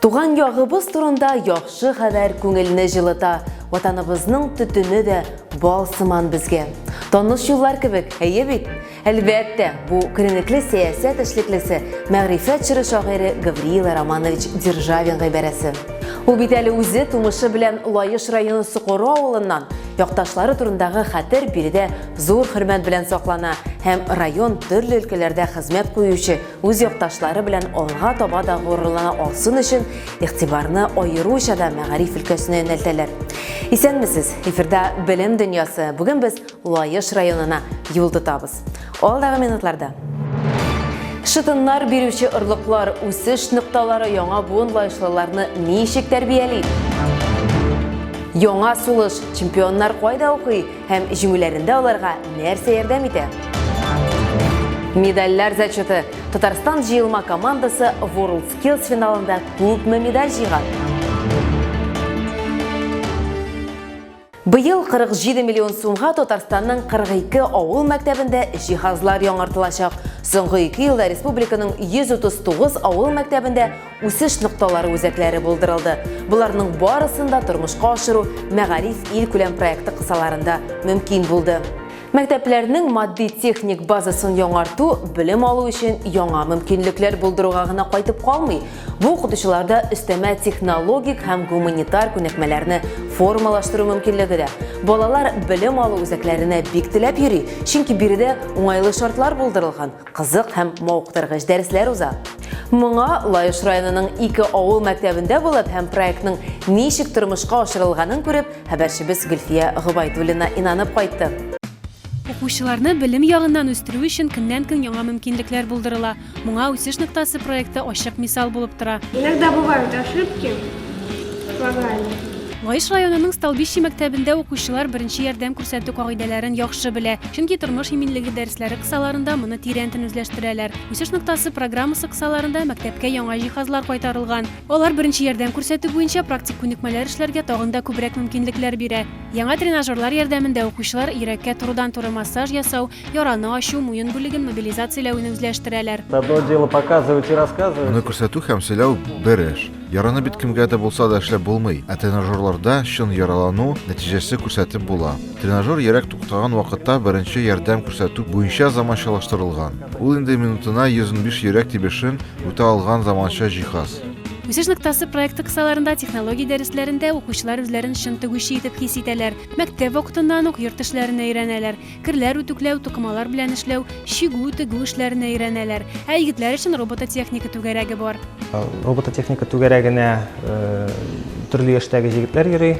Туган ягыбыз турында яхшы хәбәр күңелне җылыта, ватаныбызның төтене дә бал сыман безгә. Таныш юллар кебек, әйе бит? Әлбәттә, бу күренекле сәясәт эшлеклесе, мәгърифәт чоры шагыйре Гавриила Романович Державин гыйбарәсе. Ул бит әле үзе тумышы белән Лаеш районы Сокоры авылыннан, якташлары турындагы хәтер биредә зур хөрмәт белән саклана һәм район төрле өлкәләрдә хезмәт куючы үз якташлары белән алга таба да горурлана алсын өчен игътибарны аеруча да мәгариф өлкәсенә юнәлтәләр. Исәнмесез! Эфирда Белем дөньясы. Бүген без Лаеш районына юл тотабыз. Алдагы минутларда Шытыннар бирүче орлыклар, үсеш нокталары яңа буын лаешлыларны ничек тәрбияли? Яңа сулыш, чемпионнар кайда укый? Һәм җиңүләрендә аларга нәрсә ярдәм итә? Медальләр зачеты. Татарстан җыелма командасы World Skills финалында күпме медаль җыйган? Быел 47 миллион сумга Татарстанның 42 авыл мәктәбендә җиһазлар яңартылачак. Соңгы ике елда республиканың 139 авыл мәктәбендә үсеш нокталары үзәкләре булдырылды. Боларның барысын да тормышка ашыру Мәгариф илкүләм проекты кысаларында мөмкин булды. Мәктәпләрнең матди-техник базасын яңарту белем алу өчен яңа мөмкинлекләр булдыруга гына кайтып калмый, бу укытучыларда өстәмә технологик һәм гуманитар күнекмәләрне формалаштыру мөмкинлеге дә. Балалар белем алу үзәкләренә бик теләп йөри, чөнки биредә уңайлы шартлар булдырылган. Кызык һәм мавыктыргыч дәресләр уза. Моңа Лаеш районының ике авыл мәктәбендә булып һәм проектның ничек тормышка ашырылганын күреп, хәбәрчебез Гөлфия Гобайдуллина инанып кайтты. Укучыларны белем ягыннан үстерү өчен көннән-көн яңа мөмкинлекләр булдырыла. Моңа Үсеш ноктасы проекты ачык мисал булып тора. Иногда бывают ошибки в программе. Лаеш районының Столбище мәктәбендә укучылар беренче ярдәм күрсәтү кагыйдәләрен яхшы белә, чөнки тормыш иминлеге дәресләре кысаларында моны тирәнтен үзләштерәләр. Үсеш ноктасы программасы кысаларында мәктәпкә яңа җиһазлар кайтарылган. Алар беренче ярдәм күрсәтү буенча практик күнекмәләр эшләргә тагын да күбрәк мөмкинлекләр бирә. Яңа тренажерлар ярдәмендә укучылар йөрәккә турыдан-туры массаж ясау, Яраны ачу, муен бүлеген мобилизацияләвене үзләштерәләр. Аны күрсәтү һәм сөйләү бер эш. Яраны бит кемгә дә булса да эшләп булмый, ә тренажерларда чын яралану нәтиҗәсе күрсәтеп була. Тренажер йөрәк туктаган вакытта беренче ярдәм күрсәтү буенча заманчалаштырылган. Ул инде минутына 115 йөрәк тибешен үтә алган заманча җиһаз. Үсеш ноктасы проекты кысаларында технология дәресләрендә укучылар үзләрен чын тегүче итеп хис итәләр. Мәктәп вакытыннан ук йорт эшләрен өйрәнәләр. Керләр үтүкләү, тукымалар белән эшләү, чигү, тегү эшләренә өйрәнәләр. Ә егетләр өчен робототехника түгәрәге бар. Робототехника түгәрәгенә төрле яшьтәге егетләр йөри,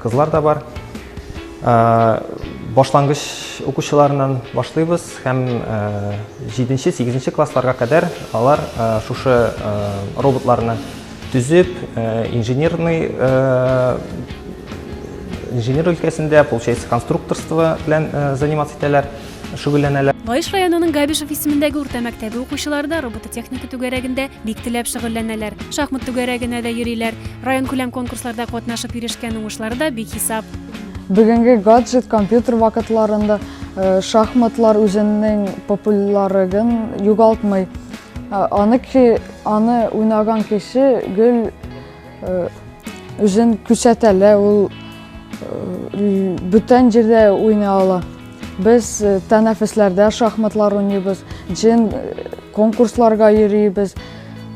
кызлар да бар. Башлангыч укучыларыннан башлыйбыз һәм 7-8 классларга кадәр алар шушы роботларны Төзеп, инженерный инженер өлкәсендә, получается, конструкторство белән заниматься итәләр, шөгыльләнәләр. Лаеш районының Габишев исемендәге урта мәктәбе укучылары да робототехника түгәрәгендә бик теләп шөгыльләнәләр. Шахмат түгәрәгенә дә йөриләр. Район күләм конкурсларда катнашып ирешкән уңышлары да бик хисап. Бүгенге гаджет компьютер вакытларында шахматлар үзенең популярыгын югалтмый. Аны, аны уйнаган кеше гел үзен күрсәтәлә, ул бүтән җирдә уйный ала. Без тәнәфесләрдә шахматлар уйныйбыз, җен конкурсларга йөрибез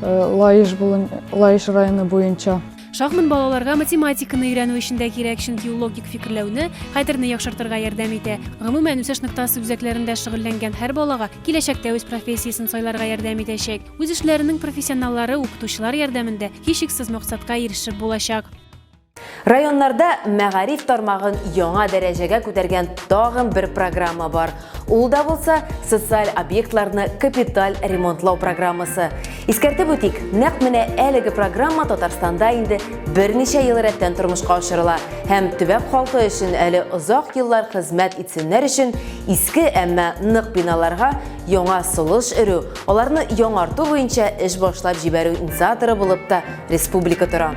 Лаеш районы буенча. Шахмат балаларга математиканы өйрәнү өчен дә кирәк, чөнки ул логик фикерләүне, хәтерне яхшыртырга ярдәм итә. Гомумән, үсеш ноктасы үзәкләрендә шөгыльләнгән һәр балага киләчәктә үз профессиясен сайларга ярдәм итәчәк. Үз эшләренең профессионаллары, укытучылар ярдәмендә һичшиксез максатка ирешеп булачак. Районнарда мәгариф тармагын яңа дәрәҗәгә күтәргән тагын бер программа бар. Ул да булса социаль объектларны капиталь ремонтлау программасы. Искәртеп үтик, нәкъ менә әлеге программа Татарстанда инде берничә ел рәттән тормышка ашырыла һәм төбәк халкы өчен әле озак еллар хезмәт итсеннәр өчен иске, әмма нык биналарга яңа солыш өрү, аларны яңарту буенча эш башлап җибәрү инициаторы булып та республика тора.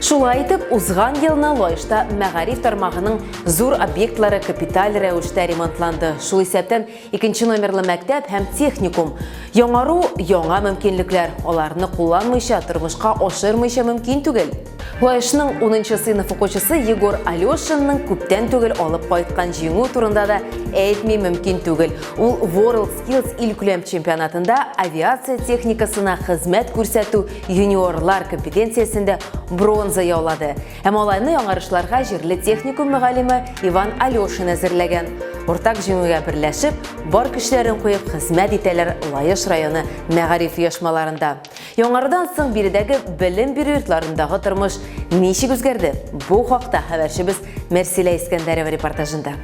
Шулай итеп, узган елны Лаешта мәгариф тармагының Зур объектлары капиталь рәвештә ремонтланды. Шул исәптән икенче номерлы мәктәп һәм техникум. Яңару, яңа мөмкинлекләр. Аларны кулланмыйча, тормышка ашырмыйча мөмкин түгел. Лаешның 10 сыйныф укучысы Егор Алешинның күптән түгел алып кайткан җиңү турында да әйтми мөмкин түгел. Ул World Skills илкүләм чемпионатында авиация техникасына хезмәт күрсәтү юниорлар компетенциясендә бронза яулады. Ә малайны яңарышларга җирле техникум мөгаллиме Иван Алешин әзерләгән. Уртак җиңүгә берләшеп, бар көчләрен куеп хезмәт итәләр Лаеш районы мәгариф оешмаларында. Яңардан соң биредәге белем бирү йортларындагы тормыш ничек үзгәрде? Бу хакта хәбәрчебез Мәрсилә Искәндәрова репортажында.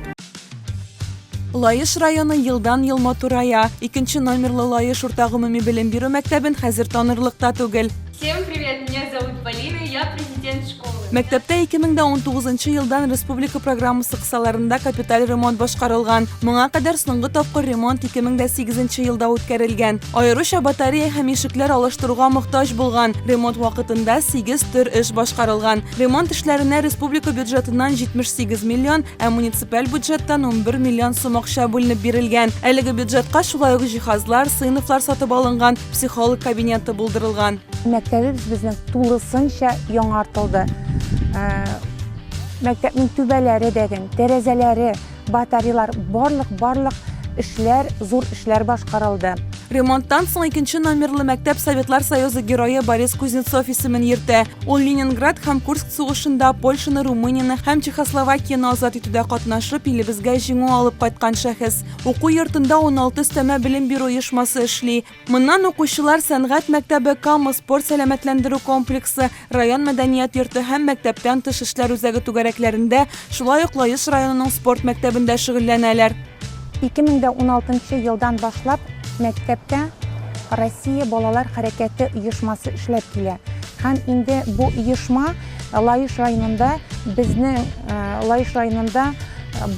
Лаеш районы елдан-ел матурая. Икенче номерлы Лаеш урта гомуми белем бирү мәктәбен хәзер танырлык та түгел. Всем привет, меня зовут Полина, я президент школы. Мәктәптә 2019 елдан республика программасы кысаларында капиталь ремонт башкарылган. Моңа кадәр соңгы тапкыр ремонт 2008 елда үткәрелгән. Аеруча батарея һәм ишекләр алыштыруга мохтаҗ булган. Ремонт вакытында 8 төр эш башкарылган. Ремонт эшләренә республика бюджетыннан 78 миллион Ә муниципаль бюджеттан 11 миллион сум акча бүленеп бирелгән. Әлеге бюджетка шулай ук җиһазлар, сыйныфлар сатып алынган, психолог кабинеты булдырылган. Мәктәбебез безнең тулысынча яңартылды. Ә, мәктәпнең түбәләре дәген, тәрәзәләре, батареялар, барлык-барлык эшләр, зур эшләр башкарылды. Ремонттан соң икенче номерлы мәктәп Советлар Союзы герое Борис Кузнецов исемен йөртә. Ул Ленинград һәм Курск сугышында Польшаны, Румынияне һәм Чехословакияне азат итүдә катнашып, илебезгә җиңү алып кайткан шәхес. Уку йортында 16 өстәмә белем бирү оешмасы эшли. Моннан укучылар сәнгать мәктәбе, Кама спорт-сәламәтләндерү комплексы, Район мәдәният йорты һәм мәктәптән тыш эшләр үзәге түгәрәкләрендә, шулай ук Лаеш районының спорт мәктәбендә шөгыльләнәләр. 2016 елдан башлап мәктәптә Россия балалар хәрәкәте оешмасы эшләп килә һәм инде бу оешма Лаеш районында безнең Лаеш районында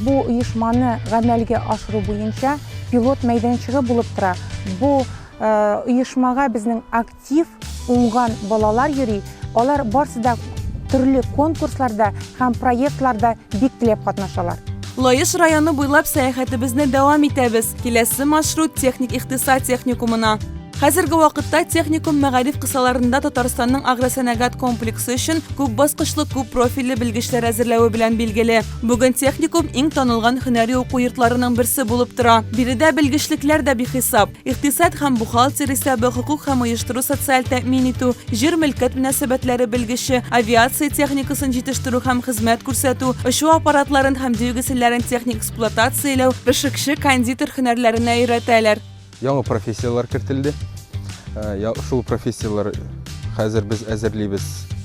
бу оешманы гамәлгә ашыру буенча пилот мәйданчыгы булып тора. Бу оешмага безнең Актив, уңган балалар йөри, алар барсы да төрле конкурсларда һәм проектларда бик теләп катнашалар. Лаеш районы буйлап сәяхәтебезне дәвам итәбез, киләсе маршрут техник икътисад техникумына. Хәзерге вакытта техникум мәгариф кысаларында Татарстанның агросәнәгать комплексы өчен күп баскычлы, күп профильле белгечләр әзерләве белән билгеле. Бүген техникум иң танылган һөнәри уку йортларының берсе булып тора. Биредә белгечлекләр дә бихисап. икътисад һәм бухгалтер исәбе, хокук һәм оештыру социаль тәэмин итү, җир мөлкәт мөнәсәбәтләре белгече, авиация техникасын җитештерү һәм хезмәт күрсәтү, очу аппаратларын һәм двигательләрен техник эксплуатацияләү, пешекче, кондитер һөнәрләренә өйрәтәләр. Яңа профессияләр кертелде. Шул профессияләр хәзер без әзерлибез.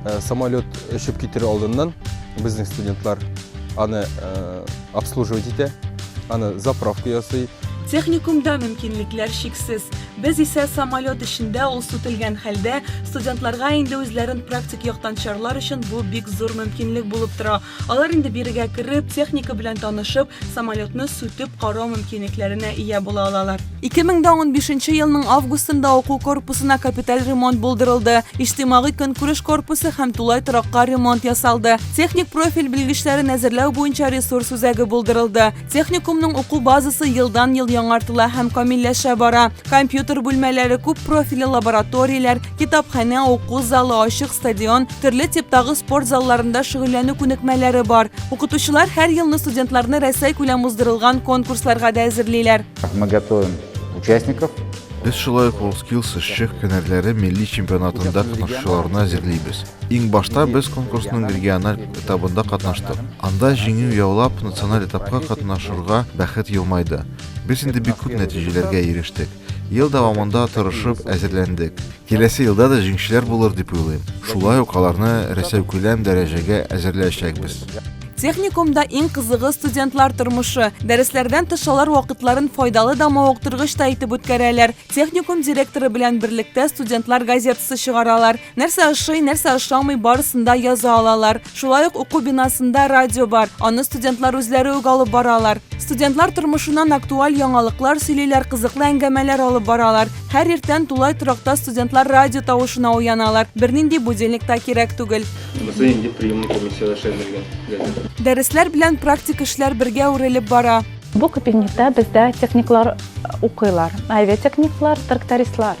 Э, самолет ұшып кетер алдынан біздің студентлар аны э, обслуживать ете аны заправка ясый техникумда мөмкинлекләр шиксез без исә самолет эчендә ул сүтелгән хәлдә студентларга инде үзләрен практик яктан чарлар өчен бу бик зур мөмкинлек булып тора Алар инде бирегә кереп, техника белән танышып, самолетны сүтеп карау мөмкинлекләренә ия була алалар. 2015 елның августында уку корпусына капиталь ремонт булдырылды. Иҗтимагый көнкүреш корпусы һәм тулай торакка ремонт ясалды. Техник профиль белгечләрен әзерләү буенча ресурс үзәге булдырылды. Техникумның уку базасы елдан-ел яңартыла һәм камилләшә бара. Компьютер бүлмәләре, күп профиле лабораторияләр, китапханә, уку залы, ачык стадион, төрле типтагы спорт залларында шөгыльләнү күнекмәләре бар. Укытучылар һәр елны студентларны Рәсәй күләм уздырылган конкурсларга да әзерлиләр. Мы готовим участников. Без шулай ук WorldSkills эшче һөнәрләре милли чемпионатында катнашучыларны әзерлибез. Иң башта без конкурсның региональ этабында катнаштык. Анда җиңү яулап, националь этапка катнашырга бәхет елмайды. Без инде бик күп нәтиҗәләргә ирештек. Ел дәвамында тырышып әзерләндек. Киләсе елда да җиңүчеләр булыр дип уйлыйм. Шулай ук аларны Рәсәүкүләм дәрәҗәгә әзерләячәкбез. Техникумда иң кызыгы студентлар тормышы. Дәресләрдән тыш алар вакытларын файдалы да мавыктыргыч та итеп үткәрәләр. Техникум директоры белән берлектә студентлар газетасы чыгаралар. Нәрсә ошый, нәрсә ошамый, барысын да яза алалар. Шулай ук уку бинасында радио бар, аны студентлар үзләре үк алып баралар. Студентлар тормышыннан актуаль яңалыклар сөйлиләр, кызыклы әңгәмәләр алып баралар. Һәр иртән тулай торакта студентлар радио тавышына уяналар, бернинди будильник та кирәк түгел. Бездә инде приемный комиссияләр эшләнелгән. Дәресләр белән практик эшләр бергә үрелеп бара. Бу кабинетта бездә техниклар укыйлар, авиатехниклар, трактористлар.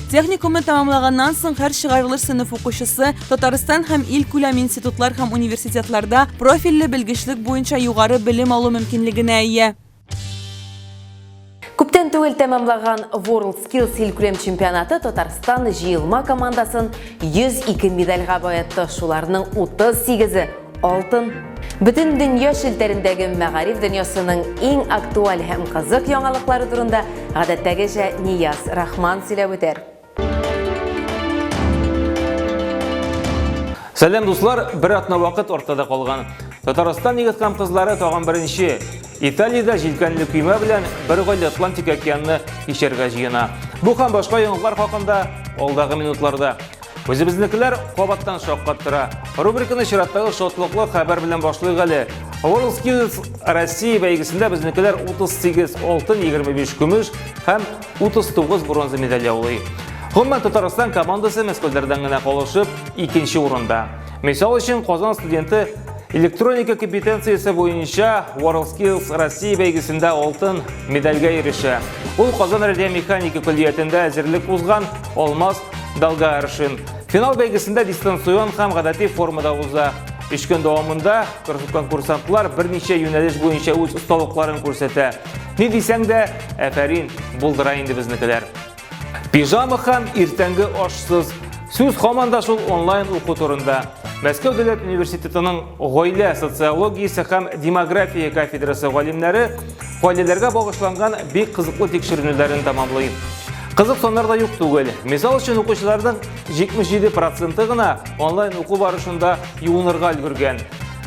Техникумны тәмамлаганнан соң һәр чыгарылыш сыйныф укучысы Татарстан һәм ил күләм институтлар һәм университетларда профильле белгечлек буенча югары белем алу мөмкинлегенә ия. Күптән түгел тәмамлаган World Skills илкүләм чемпионаты Татарстан җыелма командасын 102 медальга баетты. Шуларның 38-е Алтын. Бөтен дөнья челтәрендәге мәгариф дөньясының иң актуаль һәм кызык яңалыклары турында гадәттәгечә Нияз Рахман сөйләп үтәр. Сәлам дуслар, бер атна вакыт артта калган. Татарстан егет һәм кызлары тагын беренче Италиядә җилкәнле көймә белән бер гаилә Атлантик океанны кичәргә җыена. Бу һәм башка яңалыклар хакында алдагы минутларда. Үзебезнекеләр кабаттан шаккаттыра. Рубриканы чираттагы шатлыклы хәбәр белән башлыйк әле. WorldSkills Россия бәйгесендә безнекеләр 38 алтын, 25 көмеш һәм 39 бронза медаль яулый. Гомумән Татарстан командасы мәскәүләрдән генә калышып, икенче урында. Мисал өчен, Казан студенты электроника компетенциясе буенча WorldSkills Россия бәйгесендә алтын медальгә ирешә. Ул Казан радиомеханика көллиятендә әзерлек узган Алмаз Далгааршин. Финал бәйгесендә дистанцион һәм гадәти формада уза. Өч көн дәвамында конкурсантлар берничә юнәлеш буенча үз осталыкларын күрсәтә. Ни дисәң дә, әфәрин, булдыра инде безнекеләр. Пижама һәм иртәнге ашсыз Сүз һаман да шул онлайн уку турында. Мәскәү дәүләт университетының гаилә социологиясе һәм демография кафедрасы галимнәре гаиләләргә багышланган бик кызыклы тикшеренүләрен тәмамлый. Кызык саннар да юк түгел. Мисал өчен укучыларның 77 проценты гына онлайн уку барышында юынырга өлгергән.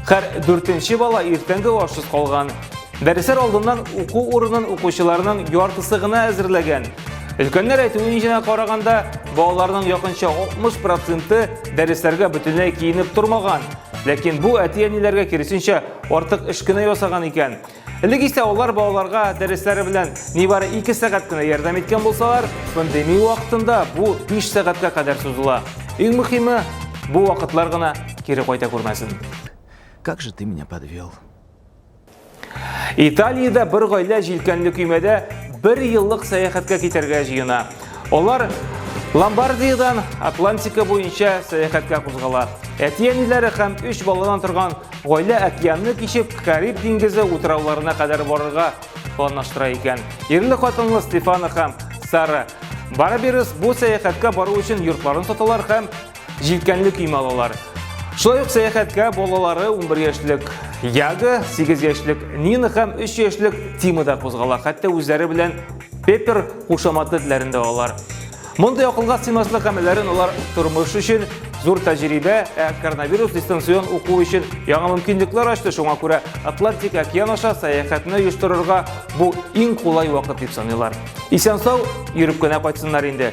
Хәр дүртенче бала иртәнге ашсыз калган. Дәресләр алдыннан уку урынын укучыларның яртысы гына әзерләгән. Өлкәннәр әйтүенчә караганда, балаларның якынча 60 проценты дәресләргә бөтенләй киенеп тормаган. Ләкин бу әти-әниләргә киресенчә артык эш кенә ясаган икән. Элек исә алар балаларга дәресләре белән нибары 2 сәгать кенә ярдәм иткән булсалар, пандемия вакытында бу 5 сәгатькә кадәр сузыла. Иң мөхиме, бу вакытлар гына кире кайта күрмәсен. Как же ты меня подвел? Италиядә бер гаилә җилкәнле көймәдә бер еллык сәяхәткә китәргә җыена. Алар Ломбардиядән Атлантика буенча сәяхәткә кузгала. Әти-әниләре һәм өч баладан торган гаилә океанны кичеп Кариб диңгезе утрауларына кадәр барырга планлаштыра икән. Ирле хатынлы Стефана һәм Сара Бараберес бу сәяхәткә бару өчен йортларын саталар һәм Җилкәнле кием алалар. Шулай ук сәяхәткә балалары 11 яшьлек Яга, 8 яшьлек Нина һәм 3 яшьлек Тима да кузгала. Хәтта үзләре белән Пеппер кушаматлы телләрен дә алалар. Мондый акылга сыймаслык гамәлләрен алар тормыш өчен зур тәҗрибә, ә коронавирус дистанцион уку өчен яңа мөмкинлекләр ачты. Шуңа күрә Атлантик океан аша сәяхәтне оештырырга бу иң кулай вакыт дип саныйлар. Исән-сау йөреп кенә кайтсыннар инде.